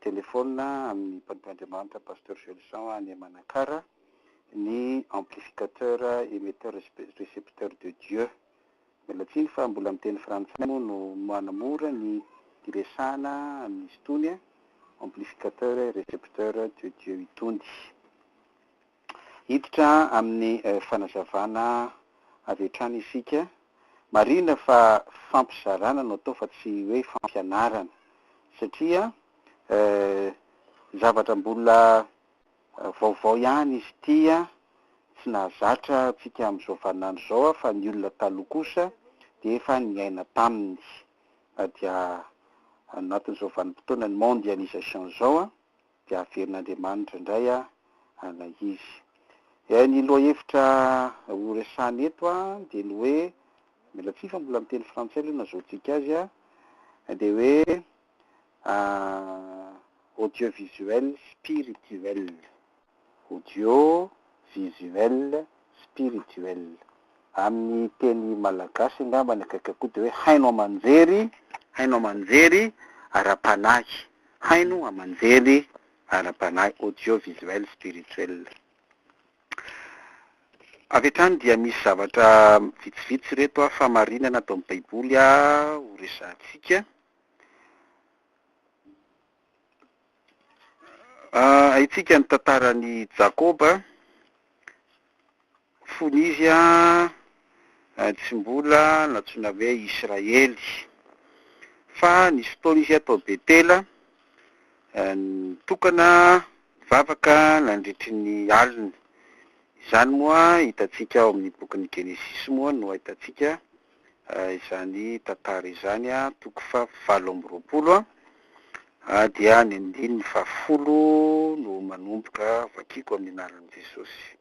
telefaonina amin'ny mpanompo Andriamanitra Pasteur Gelson any Manakara ny amplificateur emetteur recepteur de Dieu. Miala tsiny fa mbola miteny frantsay moa no manamora ny hiresahana amin'izy itony amplificateur recepteur de Dieu itony. Hiditra amin'ny fanazavana avy hatrany isika. Marihina fa fampizarana no atao fa tsy hoe fampianarana satria zavatra mbola vaovao ihany izy ity, tsy nahazatra antsika amin'izao vaninandro izao fa ny olona taloha kosa dia efa niaina taminy. Na dia anatin'izao vanim-potoana ny mondialisation izao. dia averin'Andriamanitra indray ilay izy. Dia ny lohahevitra ho resahina eto dia ny hoe, mila tsihy fa mbola miteny frantsay aloha nazahoantsika azy, dia hoe audiovisuel spirituel. audio visuel spirituel amin'ny teny malagasy angambany akaiky koa dia hoe haino aman-jery haino aman-jery ara-panahy haino aman-jery ara-panahy audio visuel spirituel avy hatrany dia misy zavatra vitsivitsy ireto a famarinana ato amin'ny baiboly a ho resahantsika Haintsika ny tantaran' i Jakoba, fony izy tsy mbola nantsoina hoe Israely. Fa nisy fotoana izy tao Betela, nitokana nivavaka nandritry ny alina. Izany moa hitantsika ao amin'ny bokin'ny Genesisy moa no ahitantsika izany tantara izany, toko fahavalo amby roapolo, dia ny andininy fahafolo no manomboka, vakiako amin'ny anaran'i Jesosy.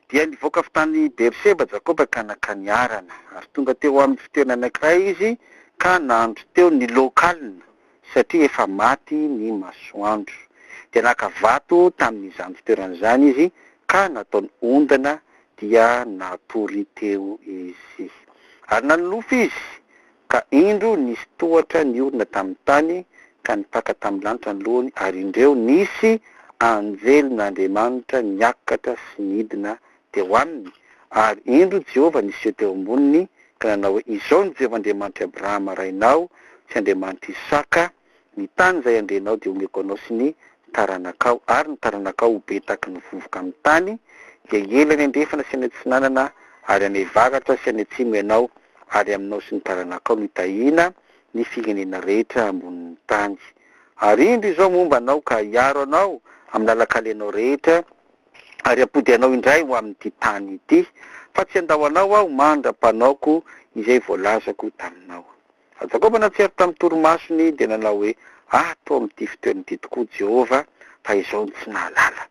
Dia nivoaka avy tany Beerseba Jakoba ka nankany Harana, ary tonga teo amin'ny fitoerana anankiray izy ka nandro teo, niloka alina, satria efa maty ny masoandro. Dia naka vato tamin'izany fitoerana izany izy ka nataony ondana dia natory teo izy. Ary nanonofy izy, ka indro nisy tohatra niorina tamin'ny tany ka nipaka tamin'ny lanitra ny lohany, ary indreo nisy anjelin'Andriamanitra niakatra sy nidina dia ho aminy, ary indro Jehovah niseho teo amboniny, ka nanao hoe, Izao no Jehovah Andriamanitr'i Abrahama rainao sy Andriamanitr'i Isaka, Ny tany izay handrenao dia homeko anao sy ny taranakao, ary ny taranakao ho be tahaky ny vovoka amin'ny tany, dia hiely any andrefana sy any atsinanana, ary any avaratra sy any atsimo ianao, ary aminao sy ny taranakao no hitahiana ny firenena rehetra ambonin'ny tany. Ary indro izao momba anao ka hiaro anao amin'ny lalan-kalenao rehetra, ary hampody anao indray ho amin'ity tany ity, fa tsy handao anao aho mandra-panaoko izay voalazako taminao. Fa Jakoba natsiaro tamin'ny torimasony dia nanao hoe, Ato amin'ity fitoerana ity tokoa Jehovah, fa izaho no tsy nahalala.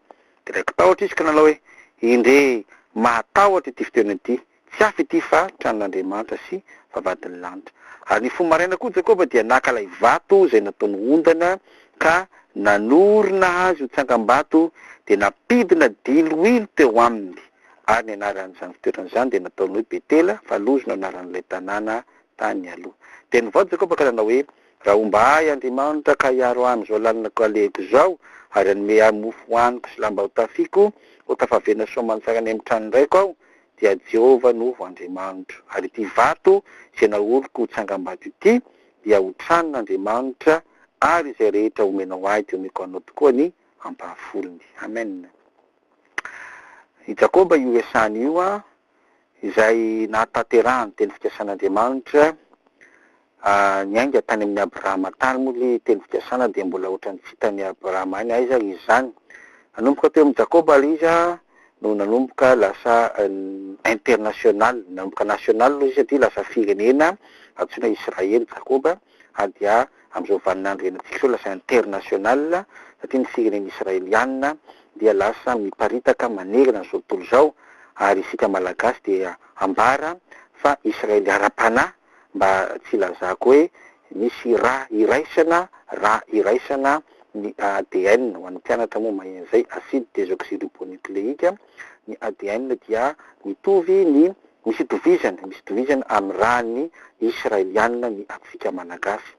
Dia raiki-tahotra izy ka nanao hoe, Endrey, mahatahotra ity fitoerana ity, Tsy hafa ity fa tranon'Andriamanitra sy vavahadin'ny lanitra. Ary ny fony maraina koa Jakoba dia naka ilay vato izay nataony ondana ka nanorina azy ho tsangambato dia nampidina diloilo teo aminy, ary ny anaran'izany fitoerana izany dia nataony hoe Betela, fa Lozy no anaran'ilay tanàna tany aloha. Dia nivaoa Jakoba ka nanao hoe, Raha homba ahy Andriamanitra ka hiaro ahy amin'izao lalina kalehiko izao, ary hanome ahy mofo hohaniko sy lamba hotafiako, ho tafaverina soamantsara any amin'ny tranon-draiko aho, dia Jehovah no ho Andriamanitro, ary ity vato izay naoriko ho tsangambato ity dia ho tranon'Andriamanitra, ary izay rehetra omenao ahy dia omeko anao tokoa ny ampahafolony. Amen. I Jakoba io Esany io, izay nahatanterahany teny fikasan'Andriamanitra, Ahh niainga tany amin'i Abrahama tany moa lie teny fikasana dia mbola ohatran'ny tsy hitan'i Abrahama any aiza ary izy zany? Nanomboka teo amin'i Jakoba ary izy ahh no nanomboka lasa international, nanomboka national aloha izy satria lasa firenena antsoina Israely Jakoba ary dia amin'izao vanin'andro hiainantsika izao lasa international satria ny firenena Israeliana dia lasa miparitaka manerana izao tontolo izao ary isika Malagasy dia ambara fa Israely ara-panahy mba tsy hilazako hoe misy ra iraisana ra iraisana ny ADN, ho an'ny mpianatra moa maheno izay, acide desoxyribonucléique, ny ADN dia mitovy ny, misy itovizany, misy itovizany amin'ny ran'ny Israeliana ny antsika Malagasy.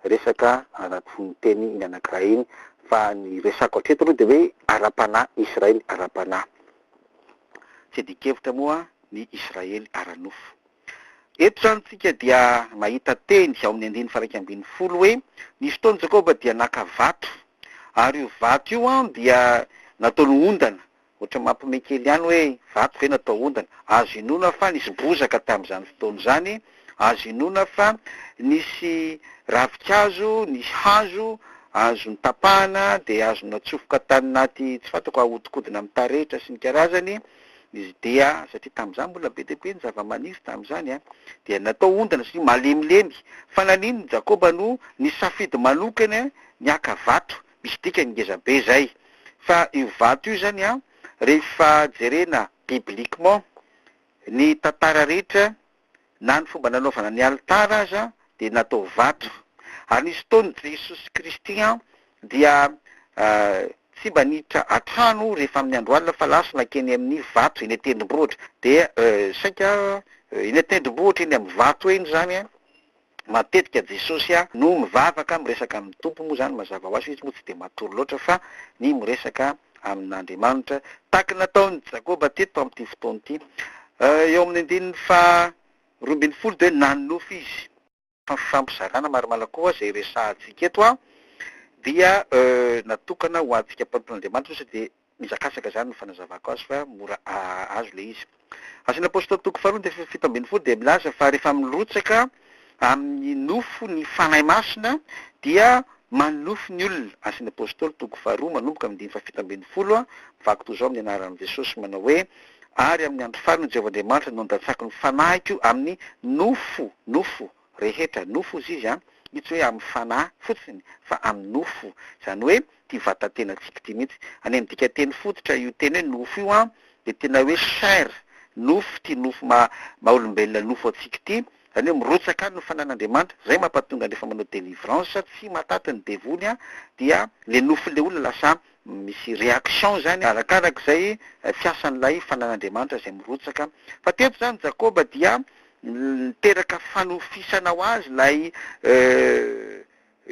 resaka anaty fononteny iny anankiray iny fa ny resako hatreto aloha dia hoe ara-panahy Israely ara-panahy tsy adin-kevitra moa ny Israely ara-nofo. Eto izany isika dia mahita teny ao amin'ny andininy faha-iraika ambin'ny folo hoe nisy fotoana Jakoba dia naka vato ary io vato io dia nataony ondana Ohatran'ny mampiomehy kely ihany hoe vato ve no atao ondana. Azo inoana fa nisy bozaka tamin'izany fotoana izany, azo inoana fa nisy ravinkazo, nisy hazo azo notapahana dia azo natsofoka tany anaty tsy fantako ahodikodina amin'ny taretra sy ny karazany, izy dia, satria tamin'izany mbola be dia be ny zavamaniry tamin'izany an, dia natao ondana satria malemilemy. Fa naninona i Jakoba no nisafidy manokana ny haka vato Misy dikany ngeza be zay. Fa io vato io zany an, rehefa jerena bibliquement, ny tantara rehetra, na ny fomba nanaovana ny alitara aza dia natao vato. Ary nisy fotoana Jesosy Kristy an dia tsy mba niditra an-trano rehefa amin'ny andro alina fa lasa nankeny amin'ny vato eny an-tendrombohitra. Dia saika eny an-tendrombohitra eny amin'ny vato eny zany an, Matetika Jesosy a no mivavaka miresaka amin'ny Tompo moa zany mazava ho azy fa izy moa tsy dia matory loatra fa ny miresaka amin'Andriamanitra tahaka ny nataon'i Jakoba teto amin'ity fotoana ity eo amin'ny andininy faha roa ambin'ny folo dia hoe nanonofy izy. Fampizarana marimarina koa izay resahantsika eto a dia natokana ho antsika mpanompon' Andriamanitra ohatra dia Mizakazaka izany no fanazavako azy fa mora azo ilay izy. Asan' ny Apôstôly toko faharoa andininy fahafito ambin'ny folo dia milaza fa rehefa mirotsaka amin' ny nofo ny Fanahy Masina dia manonofy ny olona. Asan' ny Apôstôly toko faharoa manomboka amin' ny andininy fahafito ambin'ny folo, vaky toy izao amin' ny anaran' i Jesosy manao hoe, Ary amin' ny andro farany Jehovah Andriamanitra no handatsako ny Fanahiko amin' ny nofo, nofo, rehetra, nofo hozy izy an, io tsy hoe amin'ny fanahy fotsiny fa amin'ny nofo, izany hoe ity vatantenantsika ity mihitsy, any amin'ny dikanteny fototra io teny hoe nofo io an dia tena hoe chair, nofo, ity nofo maha maha olombelona nofo antsika ity, izany hoe mirotsaka any ny fananan'Andriamanitra, izay mampatonga rehefa manao délivrance tsy mahataty ny devoly an dia ilay nofon'ilay olona lasa misy réaction izany arakarak'izay fiasan'ilay fanan'Andriamanitra izay mirotsaka, fa teto izany Jakoba dia Niteraka fanofisana ho azy ilay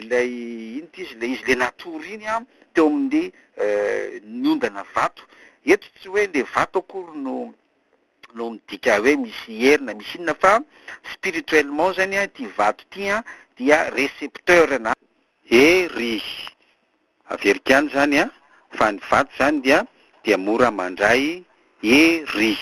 ilay inona ty izy ilay izy ilay natory iny an, teo amin'ny niondana vato. Eto tsy hoe ilay vato akory no no midika hoe misy hery na misy inona fa spirituellement zany an ity vato ity an dia recepteur na hery. Averiko ihany izany an, fa ny vato izany dia dia mora mandray hery.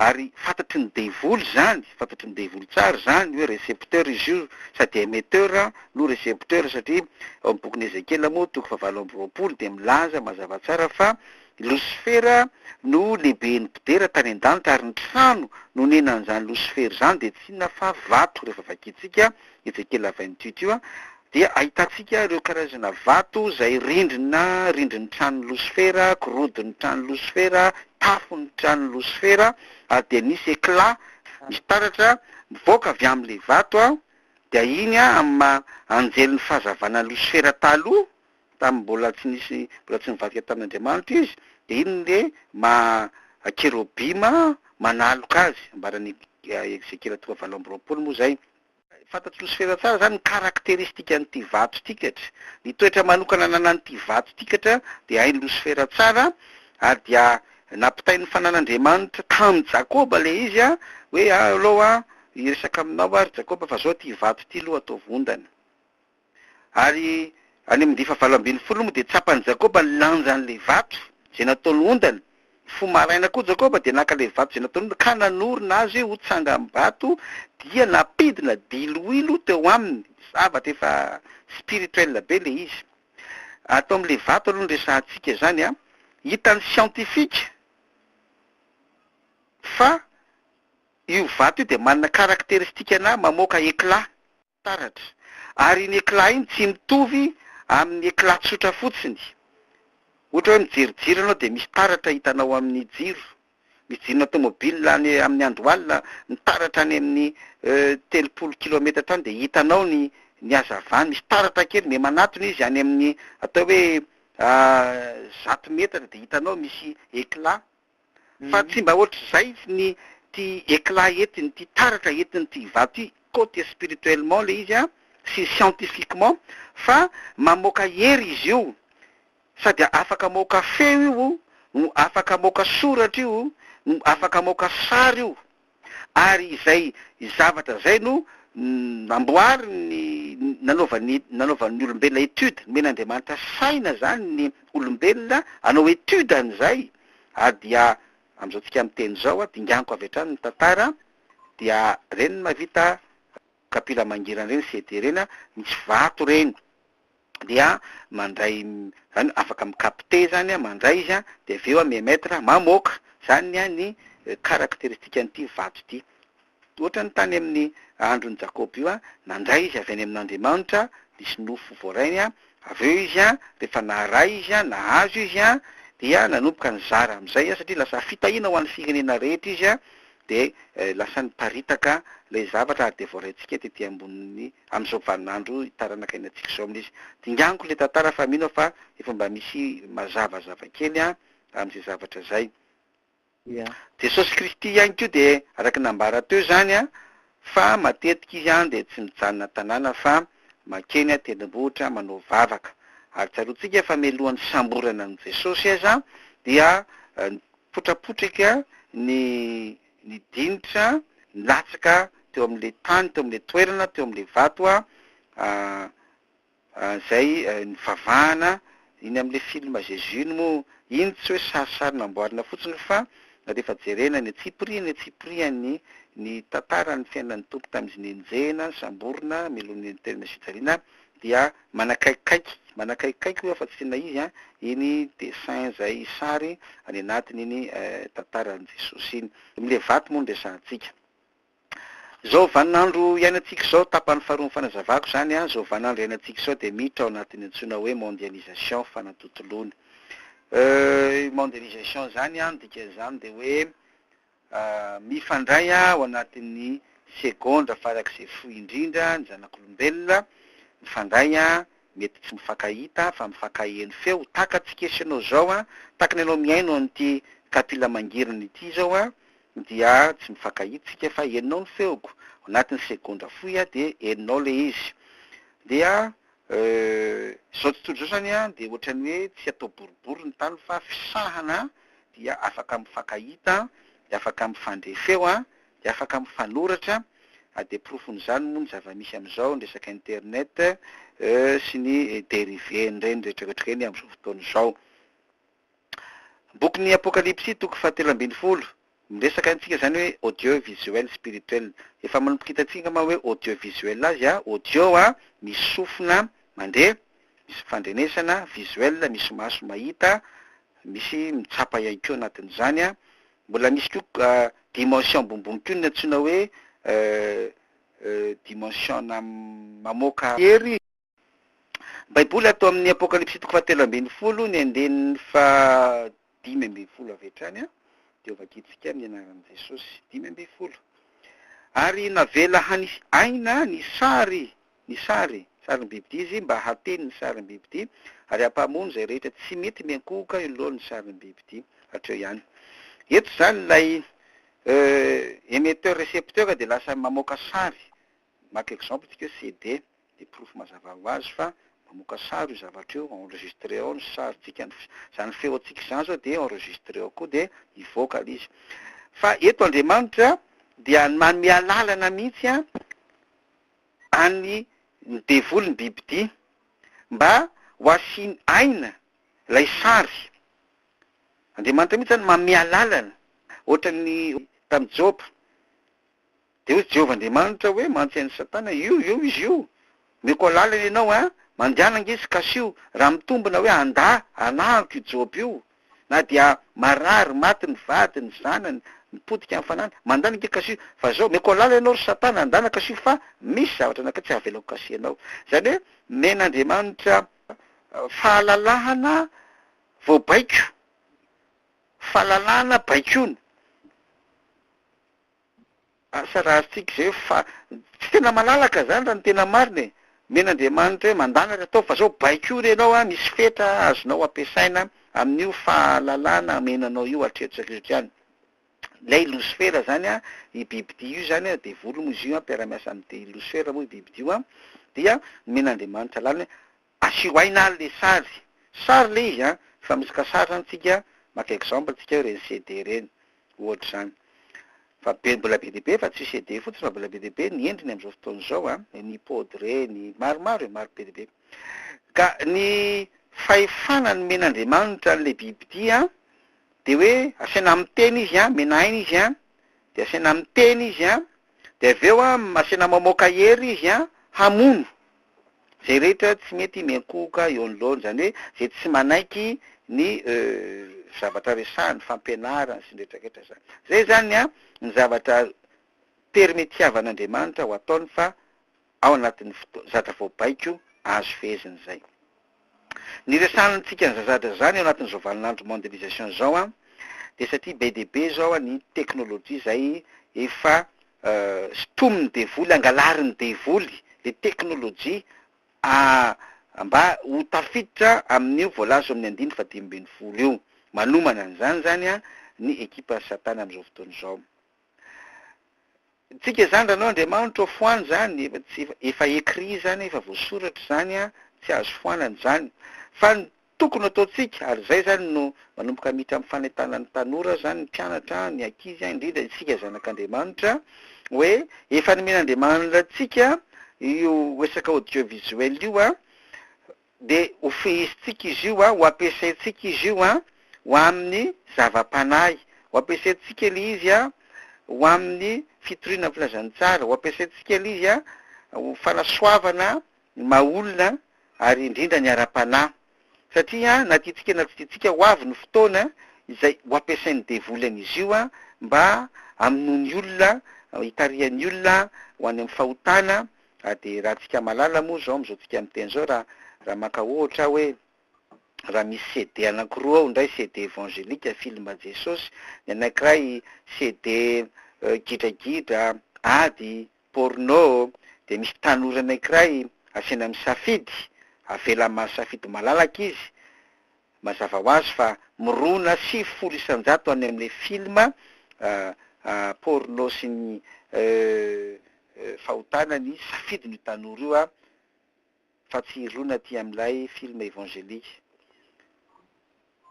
Ary fantatry ny devoly izany, fantatry ny devoly tsara izany hoe recepteur izy io sady emetteur no recepteur satria ao amin'ny bokin'i Ezekiela moa toko fahavalo amby roapolo dia milaza mazava tsara fa i Losifera no lehiben'ny mpidera tany an-danitra ary ny trano nonenan'izany Losifera izany dia tsy inona fa vato rehefa vakintsika Ezekiela vingt huit io dia ahitantsika ireo karazana vato izay rindrina, rindrin'ny tranon'i Losifera, gorodon'ny tranon'i Losifera, tafon'ny tranon'i Losifera, ary dia misy éclat, misy taratra mivoaka avy amin'ilay vato, dia iny amin'ny maha anjelin'ny fahazavana an'i Losifera taloha, tamin'ny mbola tsy nisy, mbola tsy nivadika tamin'Andriamanitra izy, dia iny no maha kerobima manaloka azy, ambaran'i Ezekiela toko fahavalo amby roapolo moa izay. Fantatry Losifera tsara izany ny karakteristikan'ity vato ity katra. Ny toetra manokana ananan'ity vato ity katra dia hain'i Losifera tsara ary dia nampitain'ny fanan'Andriamanitra tamin'i Jakoba ilay izy hoe aleo aho hiresaka aminao ary Jakoba fa izao ity vato ity aloha ataovy ondana. Ary any amin'ny ndifa valo ambin'ny folo moa dia tsapan'i Jakoba ny lanjan'ilay vato izay nataony ondana. Ny fo maraina koa Jakoba dia naka ilay vato izay nataony ondana ka nanorina azy ho tsangambato dia nampidina diloilo teo aminy. Zavatra efa spirituel be ilay izy. Ato amin'ilay vato aloha no resahantsika izany an. Hitan'ny siantifika fa io vato io dia manana karakteristikana mamoaka éclat. taratra, ary iny éclat iny tsy mitovy amin'ny éclat tsotra fotsiny, ohatra hoe mijery jiro ianao dia misy taratra hitanao amin'ny jiro, misy jironà tômôbila any amin'ny andohalina mitaratra any amin'ny telopolo kilometatra any dia hitanao ny ny hazavany, misy taratra kely miha manatona izy any amin'ny atao hoe zato metatra dia hitanao misy éclat. Fa tsy mba ohatr'izay ny ty éclat entiny ty taratra entiny ty vato ty côte spirituellement le izy an sy scientifiquement fa mamoaka hery izy io sady afaka maoka feo io no afaka maoka soratra io no afaka maoka sary io ary izay zavatra izay no namboarin'ny, nanaovan'ny, nanaovan'ny olombelona étude, nomen'Andriamanitra saina izany ny olombelona hanao étude an'izay, ary dia amin'izao tsika miteny izao, dinganiko avy hatrany ny tantara, dia ireny no mahavita. kapila mangirana ireny CD ireny misy vato ireny dia mandray zany afaka mi capter zany mandray izy a dia avy eo mi emettre mamoaka zany ny caracteristique an'ity vato ity ohatrany tany amin'ny andron'i Jakoba io nandray izy avy any amin'Andriamanitra nisy nofo voarainy avy eo izy a rehefa naharay izy a nahazo izy a dia nanomboka nizara amin'izay a satria lasa fitahiana ho an'ny firenena rehetra izy a dia lasa niparitaka ilay zavatra ary dia voaraintsika tety ambonin'ny amin'izao vaninandro taranaka iainantsika izao amin'izy. Dinganiko ilay tantara fa mino aho fa efa mba misy mazava zavakely amin'izay zavatra izay. Jesosy Kristy ihany koa dia araka ny nambara teo izany Fa matetika izy dia tsy mijanona tanàna fa mankeny an-tendrombohitra manao vavaka. Ary tsaroantsika fa mialohan'ny fisamborana an'i Jesosy aza dia nipotrapotrika ny ny dinitra nilatsaka teo amin'ilay tany, teo amin'ilay toerana, teo amin'ilay vato Izay nivavahana iny amin'ilay film Jésus iny moa, iny tsy hoe sarisary namboarina fotsiny fa rehefa jerena ny antsipiriany ny antsipiriany ny tantaran'ny fiainan'ny Tompo tamin'izy nenjehina, nisamborina, melohina eny an-toerana sy fijaliana dia manakaikikaiky, manakaikikaiky hoy aho fa tsy tena izy an, iny dessin izay sary any anatin'iny tantaran'i Jesosy iny. Amin'ilay vato moa no resahantsika. Izao vaninandro iainantsika izao, tapany faharoa ny fanazavako izany, izao vaninandro iainantsika izao dia miditra ao anatin'ny antsoina hoe mondialisation, fanatontoloana. Io mondialisation izany, ny dikan'izany dia hoe mifandray ao anatin'ny segondra farak'izay fohy indrindra ny zanak'olombelona, mifandray, mety tsy mifankahita fa mifankaheno feo, tahaka antsika sy ianao izao, tahaka ny anao mihaino an'ity kapila mangirana ity izao, Dia tsy mifankahitsika fa henonao ny feoko, ao anatin'ny segondra fohy a dia henonao ilay izy. Dia euh izao tontolo izao izany a dia ohatran'ny hoe tsy atao boribory ny tany fa fisahana dia afaka mifankahita, dia afaka mifandre feo a, dia afaka mifanoratra a, dia porofon'izany moa ny zava-misy amin'izao, ny resaka internet euh sy ny dérivé-ny ireny rehetra rehetra ireny amin'izao fotoana izao. Bokin'ny Apokalypsy, toko fahatelo ambin'ny folo, miresaka amintsika izany hoe audio visuel spirituel. Efa manomboka hitantsika angamba hoe audio visuel azy a! Audio a, misy sofina mandeha, misy fifandrenesana, visuel misy maso mahita, misy mitsapa ihany koa anatin'izany a! Mbola misy koa dimension ambonimbony koa ny antsoina hoe dimension-na mamoaka hery. Baiboly ato amin'ny Apokalypsy toko fahatelo ambin'ny folo ny andininy fahadimy ambin'ny folo avy hatrany dia ho vakintsika amin'ny anaran'i Jesosy, dimy ambin'ny folo. Ary navela hanisy aina ny sary, ny sary, sarim-bibidia izy mba hateny ny sarim-bibidia ary hampamono izay rehetra tsy mety miankohoka eo anoloan'ny sarim-bibidia. Hatreo ihany. Eto izany ilay emetteur-recepteur dia lasa mamoaka sary Maka exemple tsika CD de porofo mazava ho azy fa mamoaka sary io zavatra io enregistre ao ny sary tsika ny zany feo antsika izany zao de enregistre ao koa de hivoaka le izy fa eto Andriamanitra dia manome alalana mihitsy an any ny devoly ny bibidia mba ho asiny aina ilay sary Andriamanitra mihitsy zany manome alalana ohatran'ny tamin'i Joba Dia hoy Jehovah Andriamanitra hoe, Mantsy an'i Satana, io, io izy io! Omeko alalana ianao, a! Mandehana ange izy, kasio! Raha mitombina hoe handà, hanahako io Joba io! Na dia marary, maty ny vadiny, ny zanany, nipotika amin'ny fanahiny, mandana ange, kasio! Fa izao, omeko alalana ianao, ry Satana, andana, kasio, fa misy zavatra anankiray tsy havelako kasihanao. Izany hoe, omen'Andriamanitra fahalalahana vao baiko, fahalalahana baikoina. Asa raha azontsika izay eo fa tsy tena malalaka izany raha ny tena marina e! Omen'Andriamanitra hoe mandana ry ataovy fa izao baiko ry ianao a, misy fetra azonao ampiasaina amin'io fahalalana omenanao io hatreto sy hatreto ihany. Ilay losifera izany a, io bibidia io izany a, devoly moa izy io a, mpiara-miasa amin'i losifera moa io bibidia io a, dia nomen'Andriamanitra lalana hoe Asio aina ary le sary. Sary le izy an! Fa misy ka sary zany tsika maka exemple tsika hoe reny CD reny ohatr'izany fa be mbola be dia be fa tsy CD fotsiny fa mbola be dia be ny endriny amzao fotoana izao an! Ny pod reny maromaro e! Maro be dia be ka ny fahefana nomen'Andriamanitra anle biby ity an! Dia hoe asaina miteny izy an! Omena aina izy an! Dia asaina miteny izy an! Dia avy eo an! Asaina mamoaka hery izy an! Hamono! Izay rehetra tsy mety miankohoka eo anoloany, izany hoe izay tsy manaiky ny zavatra resahiny, fampianarany sy ny rehetra rehetra izany. Izay izany ny an, ny zavatra permetiavan'Andriamanitra ho ataony fa ao anatin'ny fotoana, zavatra voabaiko azo fehezina izay. Ny resahantsika an'zazadra zany eo anatin'izao vanin'andro mondialisation izao an, dia satria be dia be izao an ny teknolojia izay efa sintomin'ny devoly, angalarin'ny devoly le teknolojia a mba ho tafiditra amin'io voalaza eo amin'ny andininy faha dimy ambin'ny folo io. Manomana an'izany izany an ny ekipan'i satana amin'izao fotoana izao. Tsika zany ranao Andriamanitra ô foano zany efa tsy efa écrit zany efa voasoratra zany a tsy azo foanana zany fa ny tokony ataontsika ary zay zany no manomboka miditra amin'ny fanentana ny tanora zany ny mpianatra ny ankizy a indrindra isika zanak'Andriamanitra hoe efa nomen'Andriamanitra antsika io resaka audiovisuel io a Dia hofihisintsika izy io, ho ampiasaintsika izy io ho amin'ny zava-panahy, ho ampiasaintsika ilay izy ho amin'ny fitoriana ny filazantsara, ho ampiasaintsika ilay izy ho fanasoavana ny maha olona ary indrindra ny ara-panahy. Satria na tiantsika na tsy tiantsika ho avy ny fotoana izay ho ampiasain'ny devoly an'izy io mba hamonoany olona, hitarihan'ny olona ho any amin'ny fahotana Raha dia raha tsika malala moa izao amin'izao tsika miteny izao raha raha maka ohatra aho hoe raha misy CD anankiroa ao, ny iray CD evangelika, film Jesosy, ny anankiray CD gidragidra, ady, porno, dia misy tanora anankiray asaina misafidy, avela mahasafidy malalaka izy, Mazava ho azy fa mirona sivy folo isan-jato any amin'ilay film porno sy ny fahotana ny safidin'io tanora io fa tsy hirona aty amin'ilay film evangelique.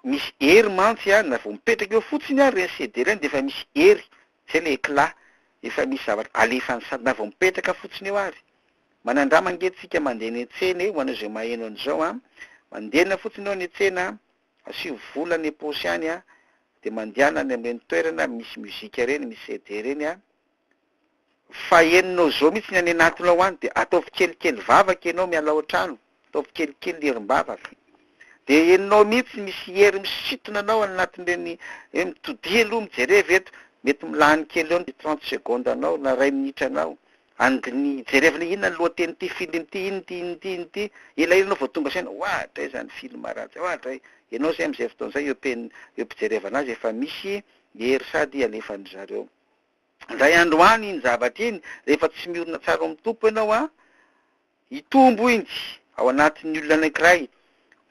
Misy hery mantsy an, na vao mipetraka eo fotsiny ary ilay CD ilay dia efa misy hery, izay ilay éclat, efa misy zavatra alefany sady na vao mipetraka fotsiny eo ary. Manandrama ange tsika mandeha eny an-tsena eo, ho an'izay maheno an'izao an! Mandehana fotsiny eo any an-tsena an! Asio vola any am-paosy any an! Dia mandehana any amin'ireny toerana misy musique ireny, misy CD ireny an! Fa henonao zao mihitsy ny any anatiny ao an! Dia ataovy kelikely vavaka ianao miala ao an-trano. Ataovy kelikely ny herim-bavaka. Dia henonao mihitsy misy hery misintona anao any anatin'ireny hoe mitodiha aloha mijereva eto, mety milany kely eo ny trente secondes anao na iray minitra anao, handini-, hijerevana inona ny lohatenin'ity film ity, inona ity, inona ity, inona ity, elaela ianao vao tonga saina, oa dray izany film ratsy, oa dray, ianao izay amin'izay fotoana izay eo am-pen-, eo am-pijerevana azy efa misy hery sady alefan'ny zareo. Indray andro any iny zavatra iny, rehefa tsy miorina tsara ao amin'ny Tompo ianao an, Hitombo injy ao anatin'ny olona anankiray,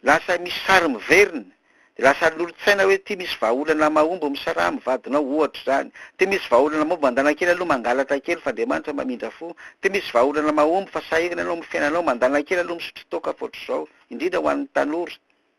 lasa misy sary miverina, dia lasa lolontsaina hoe ity misy vahaolana mahomby misaraha amin'ny vadinao ohatra izany, ity misy vahaolana mahomby mandana kely aloha mangalatra kely fa Andriamanitra mamindra fo, ity misy vahaolana mahomby fa sahirana ianao amin'ny fiainanao mandana kely aloha misotro toaka fa ohatr'izao, indrindra ho an'ny tanora.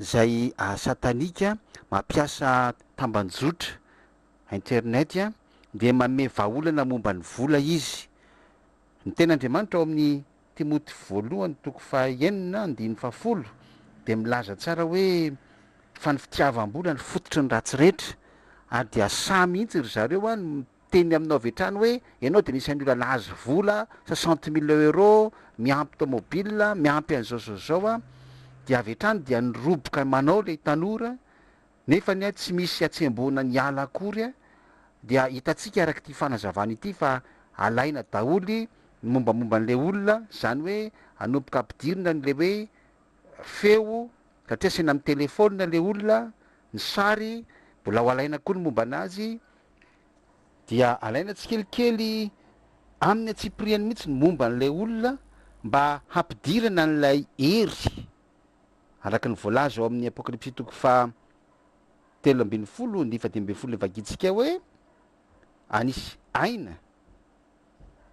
izay satanika mampiasa tambanjotra, internet, dia manome vahaolana momba ny vola izy. Ny teny Andriamanitra ao amin'ny Timoty voalohany toko faha enina andininy faha folo dia milaza tsara hoe fa ny fitiavam-bola no fototry ny ratsy rehetra ary dia sahy mihitsy ry zareo an teny aminao avy hatrany hoe ianao dia anisan'ny olona nahazo vola soixante mille euro miampy tomobile miampy an'izao zao zao a dia avy hatrany dia niroboka manao ilay tanora nefa ny a tsy misy atsembohana ny ala akory a dia hitantsika araka ity fanazavana ity fa alaina daholy ny mombamomba an'ilay olona izany hoe anomboka ampidirina an'ilay hoe feo satria asiana amin'ny telephone ilay olona ny sary mbola ho alaina koa ny momba anazy dia alaina tsikelikely amin'ny antsipiriany mihitsy ny momba an'ilay olona mba hampidirana an'ilay hery araka ny voalaza ao amin'ny Apokalypsy toko faha telo ambin'ny folo ny faha dimy ambin'ny folo ny vakintsika hoe anisy aina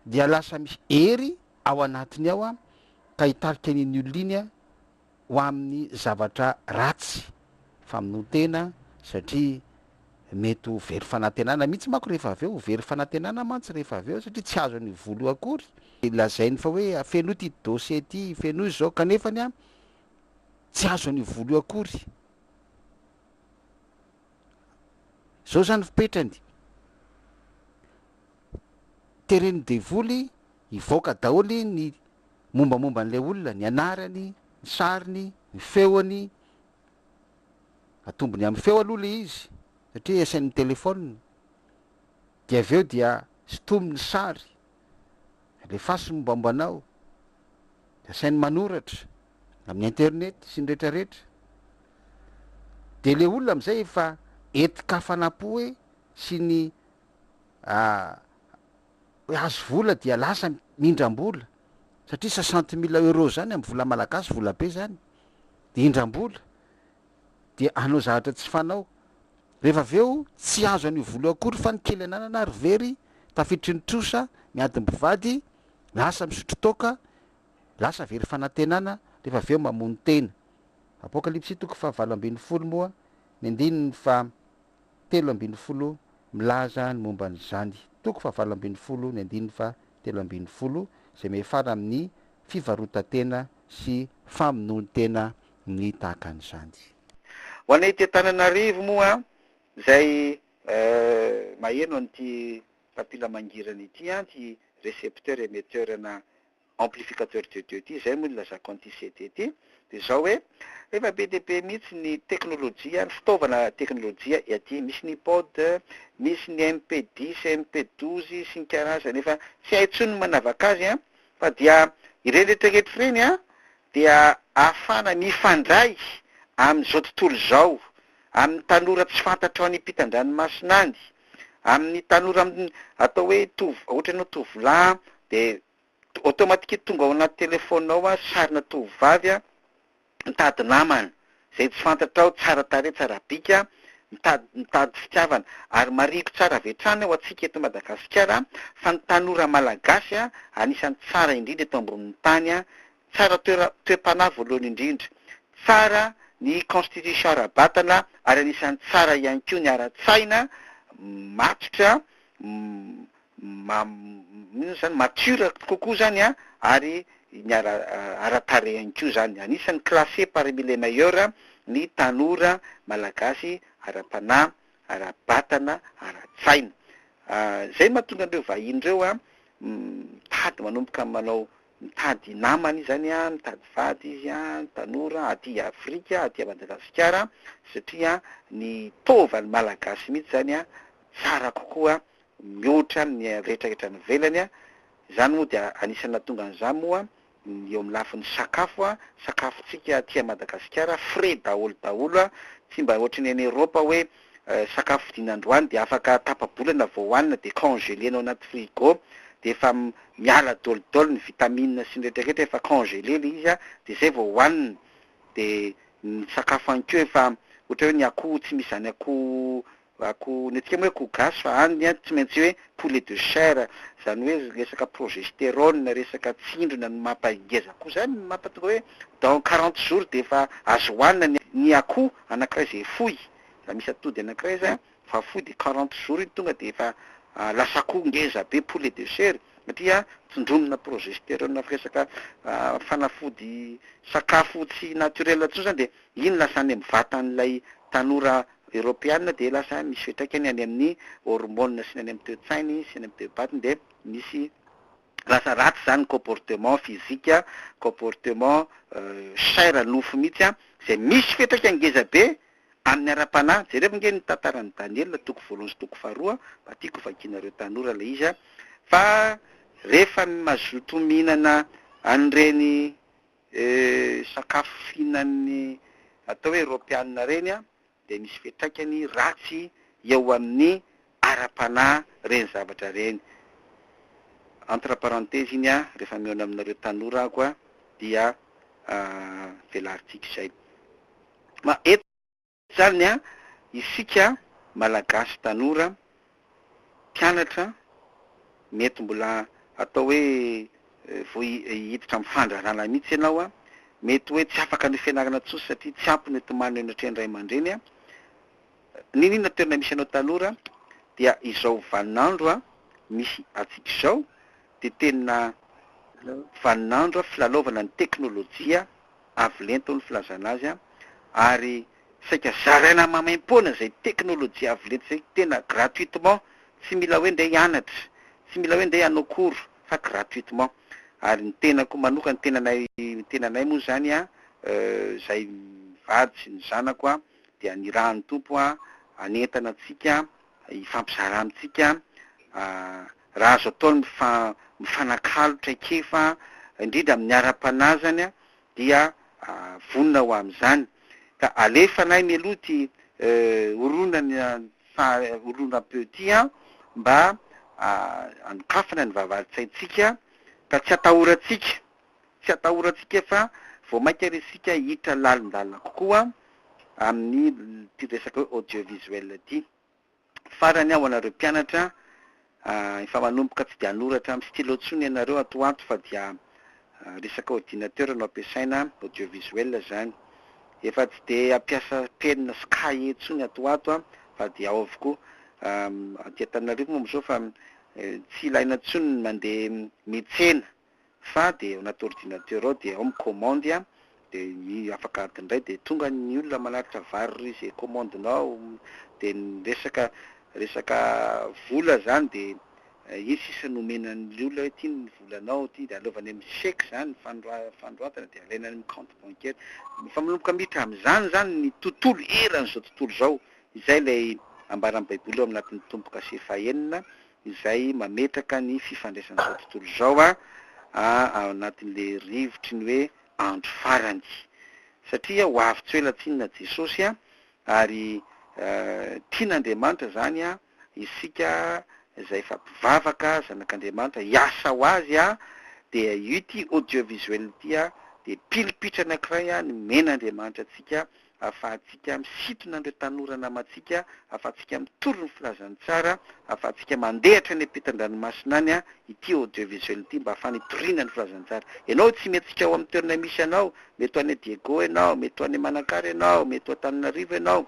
dia lasa misy hery ao anatiny ao ka hitarika an'iny olona iny ho amin'ny zavatra ratsy, famonoan-tena satria mety ho very fanantenana mihitsy manko rehefa avy eo, ho very fanantenana mantsy rehefa avy eo satria tsy azony io vola io akory. Lazainy fa hoe afenoy ity dossier ity, fenoy izao kanefany an, tsy azony io vola io akory. Izao izany fipetrany. Teren'ny devoly hivoaka daholo ny. mombamomba an'ilay olona, ny anarany, ny sariny, ny feony, atombony amin'ny feo aloha ilay izy satria esain'ny telephone, dia avy eo dia sintomy ny sary, alefaso ny mombamomba anao, dia asainy manoratra amin'ny internet sy ny retraretra, dia ilay olona amin'izay efa entin-kafanam-po e sy ny Hoe azo vola dia lasa mindram-bola satria soixante mille euros izany amin'ny vola malagasy vola be izany dia indram-bola dia hanao zavatra tsy fanao. Rehefa avy eo tsy azo an'io vola io akory fa ny kely ananana ary very tafiditry ny trosa miady ny mpivady, lasa misotro toaka, lasa very fanantenana rehefa avy eo mamono tena. Apokalypsy toko fahavalo ambin'ny folo moa ny andininy faha telo ambin'ny folo milaza ny momba an'izany, toko fahavalo ambin'ny folo ny andininy faha telo ambin'ny folo, izay miafara amin'ny fivarotan-tena sy famonoan-tena ny tahaka an'izany. Ho anay ety Antananarivo moa, izay maheno an'ity mpampilamangira an'ity, tsy recepteur-emetteur-na amplificateur de Dieu ity, izay moa no ilazako an'ity CD ity, dia izao hoe, efa be dia be mihitsy ny teknolojia, ny fitaovana teknolojia aty, misy ny ipod, misy ny MP dix, MP douze sy ny karazany, efa tsy hay intsony ny manavaka azy an, fa dia ireny rehetra rehetra ireny an, dia ahafahana mifandray amin'izao tontolo izao, amin'ny tanora tsy fantatrao any ampitan-dranomasina any, amin'ny tanora atao hoe tovolahy, ohatran'ny hoe tovolahy dia automatique tonga ao anaty telephone ao sarina tovovavy mitady namana, Zay tsy fantatrao, tsara tarehy, tsara bika, mitady mitady fitiavana, ary marihiko tsara avy hatrany ho antsika eto Madagasikara fa ny tanora Malagasy anisany tsara indrindra eto ambonin'ny tany, tsara toera toe-panahy voalohany indrindra, tsara ny constitution ara-batana ary anisany tsara ihany koa ny ara-tsaina, matotra, ma inona izany mature kokoa izany an, ary ny ara ara-tarehy ihany koa izany. Anisan'ny classé parmi les meilleurs ny tanora malagasy ara-panahy, ara-batana, ara-tsaina. Izay no mahatonga an'ireo vahiny ireo an mitady manomboka manao mitady namana izy izany an, mitady vady izy an, tanora aty Afrika, aty Madagasikara satria ny taovany malagasy mihitsy izany an tsara kokoa mihoatra ny rehetrarehetra any ivelany, izany moa dia anisan'ny nahatonga an'izany moa ny eo amin'ny lafiny sakafo, sakafontsika aty Madagasikara frais daholo daholo, tsy mba ohatry ny any Europe hoe sakafo vidiana androany dia afaka tapa-bolana vao hohanina dia congelé-na ao anaty frigo dia efa miala daholo daholo ny vitamines sy ny rehetrarehetra efa congelé ilay izy dia izay vao hohanina, dia ny sakafo ihany koa efa ohatry ny hoe ny akoho tsy misy izany akoho Ako, ny antsika moa hoe akoho gasy fa any an tsy maintsy hoe poulet de chair, zany hoe resaka progesterone, resaka tsindrona no mampa ngeza koa zany no mampa tonga hoe dans quarante jours dia efa azo hohanina ny ny akoho anakiray izay foy, raha misy atody anakiray zany fa foy dia quarante jours iny tonga dia efa lasa akoho ngeza be poulet de chair satria tsindronona progesterone avy resaka fanafody sakafo tsy naturel intsony zany dia iny lasa any am vatan'ilay tanora Eropeana dia lasa misy fiantraikany any amin'ny hormones sy ny any amin'ny toe-tsainy sy ny amin'ny toe-batiny dia misy lasa ratsy izany ny comportement physique, comportement chair nofo mihitsy izay misy fiantraikany ngeza be amin'ny ara-panahy, jereo nge ny tantaran'i Daniela toko voalohany sy toko faharoa, mba tiako hovakianareo tanora ilay izy fa rehefa mazotoa mihinana an'ireny. sakafo fihinan'ny atao hoe Eropeanina ireny dia misy fiantraikany ratsy eo amin'ny ara-panahy ireny zavatra ireny. Entre parenthèses iny rehefa mihaona aminareo tanora aho dia velarintsika izay. Tsariny an, isika Malagasy tanora mpianatra mety mbola atao hoe vao hiditra amin'ny fandrarana mihitsy ianao an, mety hoe tsy afaka an'io fianarana intsony satria tsy ampy ny hotomanina eo anatrehan'ny ray aman-dreny an, n'inon'inona toerana misy anao tanora dia izao vanin'andro misy antsika izao dia tena vanin'andro filalaovana ny teknolojia, avo lenta hoy ny filazana azy an! ary saika zaraina maimaimpoana izay teknolojia avo lenta izay tena gratuitement, tsy mila hoe ndeha hianatra, tsy mila hoe ndeha hanao cours fa gratuitement, ary ny tenako manoka ny tenanay ny tenanay moa izany an, izahay mivady sy ny zanako an, dia nirahan'ny Tompo an hanentana antsika hifampizara amintsika raha azo atao ny mifanakalo traikefa indrindra amin'ny ara-panahy izany dia vonona ho amin'izany ka alefanay mialoha ity horonana faharoa peu ity mba hanokafana ny vavahadin-tsaintsika ka tsy hatahorantsika Tsy atahorantsika fa vao mainka ary isika hiditra lalindalina kokoa amin'ity resaka hoe audiovisuel ity. Farany aho anareo mpianatra, efa manomboka tsy dia hanoratra amin'ny stylo intsony ianareo ato ho ato fa dia resaka ordinateur no ampiasaina, audiovisuel izany. Efa tsy dia hampiasa penina sy kahie intsony ato ho ato fa dia ao avokoa. Aty Antananarivo moa amin'izao fa tsy ilaina intsony ny mandeha mihitsena. fa dia ao anaty ordinateur ao dia ao ny commande a, dia afaka adiny iray dia tonga ny olona manatitra vary ry izay commande nao, dia ny resaka resaka vola izany dia iny sisa no omena ny olona hoe ity ny volanao ity dia aleovany amin'ny chèque izany fanora- fanoratana dia alaina any amin'ny compte bancaire, efa manomboka miditra amin'izany izany ny tontolo eran'izao tontolo izao, izay ilay ambaran'ny baiboly ao anatin'ny Tompo-kase fahenina izay mametraka ny fifandraisan'izao tontolo izao ao anatin'ilay rivotry ny hoe andro farany. Satria ho avy tsy ho ela tsinona Jesosy ary tian'Andriamanitra izany isika izay efa mpivavaka, zanak'Andriamanitra, hiasa ho Azy dia ity audiovisuel ity dia pilipitrana anankiray nomen'Andriamanitra antsika ahafahantsika misintona an'ireo tanora namantsika, ahafahantsika mitory ny filazan'ny tsara, ahafahantsika mandehatra any am-pitan-dranomasina any ity audiovisuel ity mba hahafana hitoriana ny filazan'ny tsara. Ianao tsy mety tsy hika ao amin'ny toerana misy anao, mety ho any Diego ianao, mety ho any Manakara ianao, mety ho Antananarivo ianao,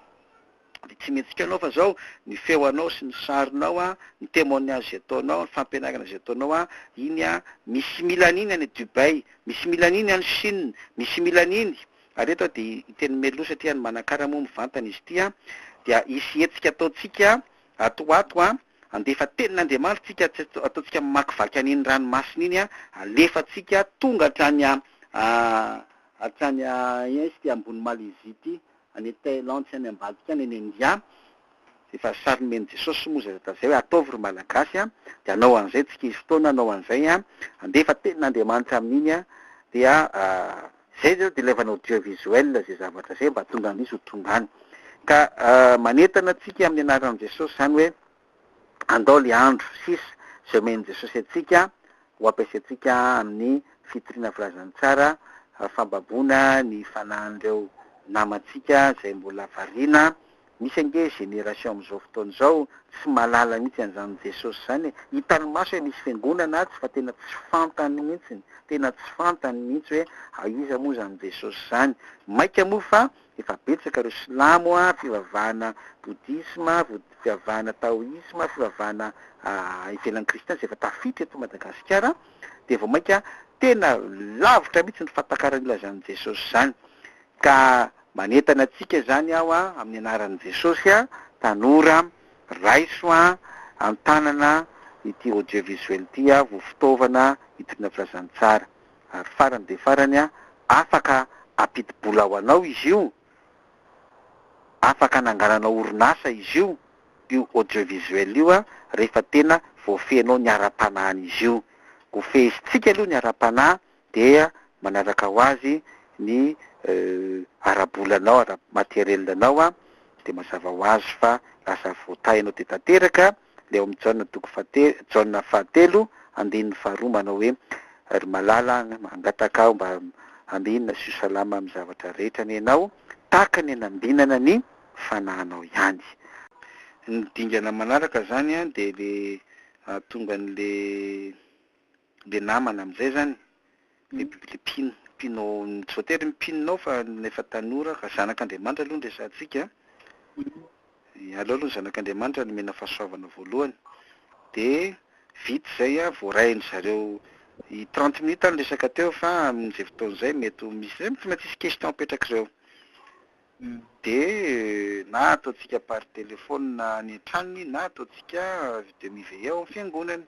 dia tsy mety tsy hitanao fa izao ny feo anao sy ny sarinao, ny témoignage izay ataonao, ny fampianarana izay ataonao, iny misy mila an'iny any Dubai, misy mila an'iny any Chine, misy mila an'iny. Ary eto dia ny teny Melo satria any Manakara moa mivantana izy ity dia hisy hetsika ataontsika ato ho ato handefa tenin'Andriamanitra tsika tsy ataontsika mamakivaky an'iny ranomasina iny alefantsika tonga hatrany hatrany aia izy ity ambony Malaisie ity any Thailand sy any ambadika any any India izay efa sary nomen'i Jesosy moa izay hatazay hoe ataovy ry Malagasy dia hanao an'izay tsika izy fotoana hanao an'izay handefa tenin'Andriamanitra amin'iny dia Zay zao de laivana audio visuel zay zavatra zay mba tonga misy ho tonga any ka manentana atsika amin'ny anaran'i Jesosy zany hoe andao le andro sisa zay omen'i Jesosy atsika ho ampiasaintsika amin'ny fitoriana filazantsara fambaboana ny fanahin'ireo namantsika zay mbola variana Misy ange génération amin'izao fotoana izao tsy mahalala mihitsy an'izany Jesosy izany e! Hitany maso hoe misy fiangonana atsy fa tena tsy fantany mihitsy, tena tsy fantany mihitsy hoe aiza moa izany Jesosy izany. Maika moa fa efa betsaka ireo silamo, fivavahana bodisma, fivavahana taoisma, fivavahana ivelan'ny kristina izay efa tafiditra eto Madagasikara dia vao maika tena lavitra mihitsy ny fahatakaran'ny ilazan'i Jesosy izany. Ka manentana antsika izany aho amin'ny anaran'i Jesosy a, tanora raiso a, antanana ity audio visuel ity a, ho fitaovana hitoriana filazantsara. Ary farany dia farany a, afaka ampidi-bola ho anao izy io, afaka anangananao orinasa izy io, io audio visuel io a, rehefa tena voafehinao ny ara-panahin'izy io. Ho fehezintsika aloha ny ara-panahy dia manaraka ho azy ny ara-bolanao, ara-matériel anao, dia mazava ho azy fa lasa voatahinao dia tanteraka ilay ao amin'ny Jaona toko fahatelo, Jaona fahatelo andininy faharoa manao hoe, Ry malala an, mangataka aho mba ambinina sy ho salama amin'ny zavatra rehetra anie ianao, tahaka ny hanambinana ny fanahinao ihany. Ny dingana manaraka izany dia ilay hahatonga an'ilay. le namana amizay zany le le mpino mpino tsy voatery mpino nao fa na efa tanora ka zanak'Andriamanitra aloha no resahantsika an, aleo aloha ny zanak'Andriamanitra no omena fahasoavana voalohany de vita izay an vao rahin-dry zareo i trente minutes aho niresaka teo fa amin'izay fotoana izay mety ho misy zay tsy maintsy hisy question apetrak'ireo de na ataontsika par téléphone any an-tranony na ataontsika de miveille ao am-piangonany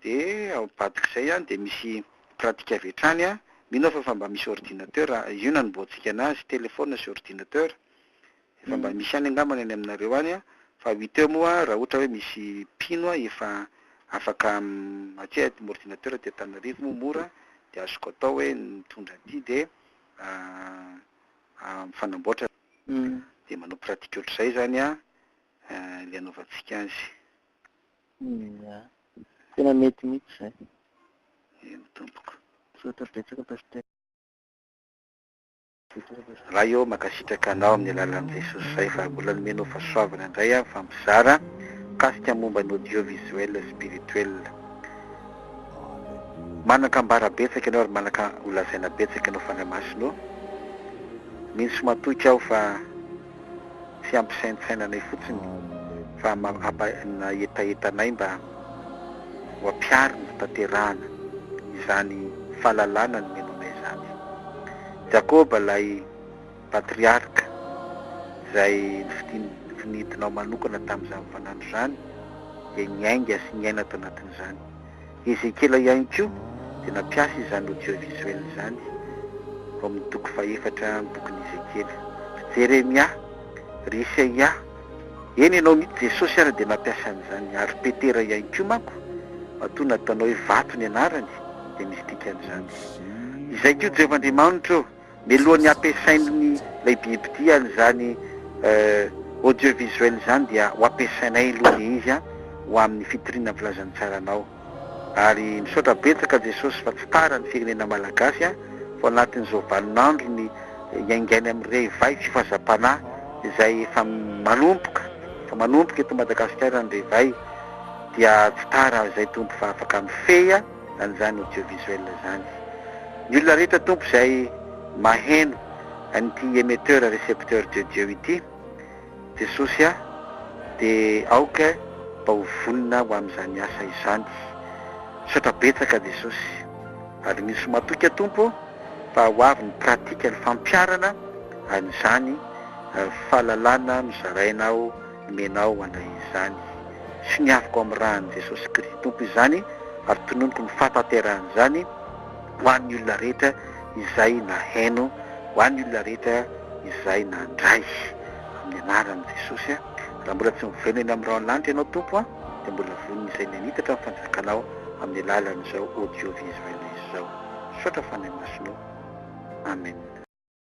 Dia ao ambadik'izay an dia misy pratique avy hatrany an, mino aho fa efa mba misy ordinateur, io nanombohantsika anazy, telephone sy ordinateur, efa mba misy ihany angamba ny any aminareo any an, fa huit heures moa raha ohatra hoe misy mpino an efa afaka aty an, ordinateur aty Antananarivo moa mora dia azoko atao hoe mitondra aty dia mifanamboatra dia manao pratique ohatr'izay izany an ilay anaovantsika azy. Ya. Tena mety mihitsy izay. Eny tompoko. Misaotra betsaka Pasitera. Ray ô, mankasitraka anao amin'ny alalan'i Jesosy Ray fa mbola nomenao fahasoavana indray aho fa mizara mikasika momba ny audio visuel spirituel. Manan-kambara betsaka ianao ary manaka ho lazaina betsaka ianao Fanahy Masina ô. Mino sy matoky aho fa. tsy hampisaintsaina anay fotsiny fa hampa hetaheta anay mba ho ampihariny fitanterahana izany fahalalana nomena anay izany. Jakôba ilay patriarka izay nifidinao manokana tamin'izany fanandro izany dia niainga sy niaina tao anatin'izany. I Ezekiela ihany koa dia nampiasa izany audiovisuel izany ao amin'ny toko fahefatra amin'ny bokin'i Ezekiela. Ry Jeremia, ry Isaia, eny ianao mihitsy, Jesosy ary dia nampiasa an'izany, ary Petera ihany koa manko, matoa nataonao hoe vato ny anarany, dia misy dikan'izany. Izay koa Jehovah Andriamanitra ô! Mialohan'ny hampiasain'ny lehibe mpitia izany audiovisuel izany dia ho ampiasainay aloha le izy a, ho amin'ny fitoriana ny filazan'ny tsaranao. Ary misaotra betsaka Jesosy fa tsy tara ny firenena Malagasy a, fa ao anatin'izao vanin'androny iaingainy amin'ny revay sy fazam-panahy izay efa manomboka, efa manomboka eto Madagasikara ny revay, dia tsy tara izay Tompo fa afaka mifehy a. an'izany audiovisuel izany. Ny olona rehetra tompo izay maheno an'ity emetteur recepteur de Dieu ity, Jesosy a, dia aoka mba ho vonona ho amin'izany asa izany. Misaotra betsaka Jesosy. Aloniso matoky a Tompo fa ho avy ny pratique ny fampiharana an'izany fahalalana nozarainao Omenao anay izany. Soniaviko amin'ny ran'i Jesosy Kristy Tompo izany ary tononiko ny fahatanterahan'izany ho an'ny olona rehetra izay naheno, ho an'ny olona rehetra izay nandray. Amin'ny anaran'i Jesosy a. Raha mbola tsy miverina eny amin'ny rahon'ny lanitra ianao Tompo a, dia mbola vono izay mianitatra ny fanjakanao amin'ny alalan'izao audio visuel izao. Misaotra Fanahy Masina o. Amen.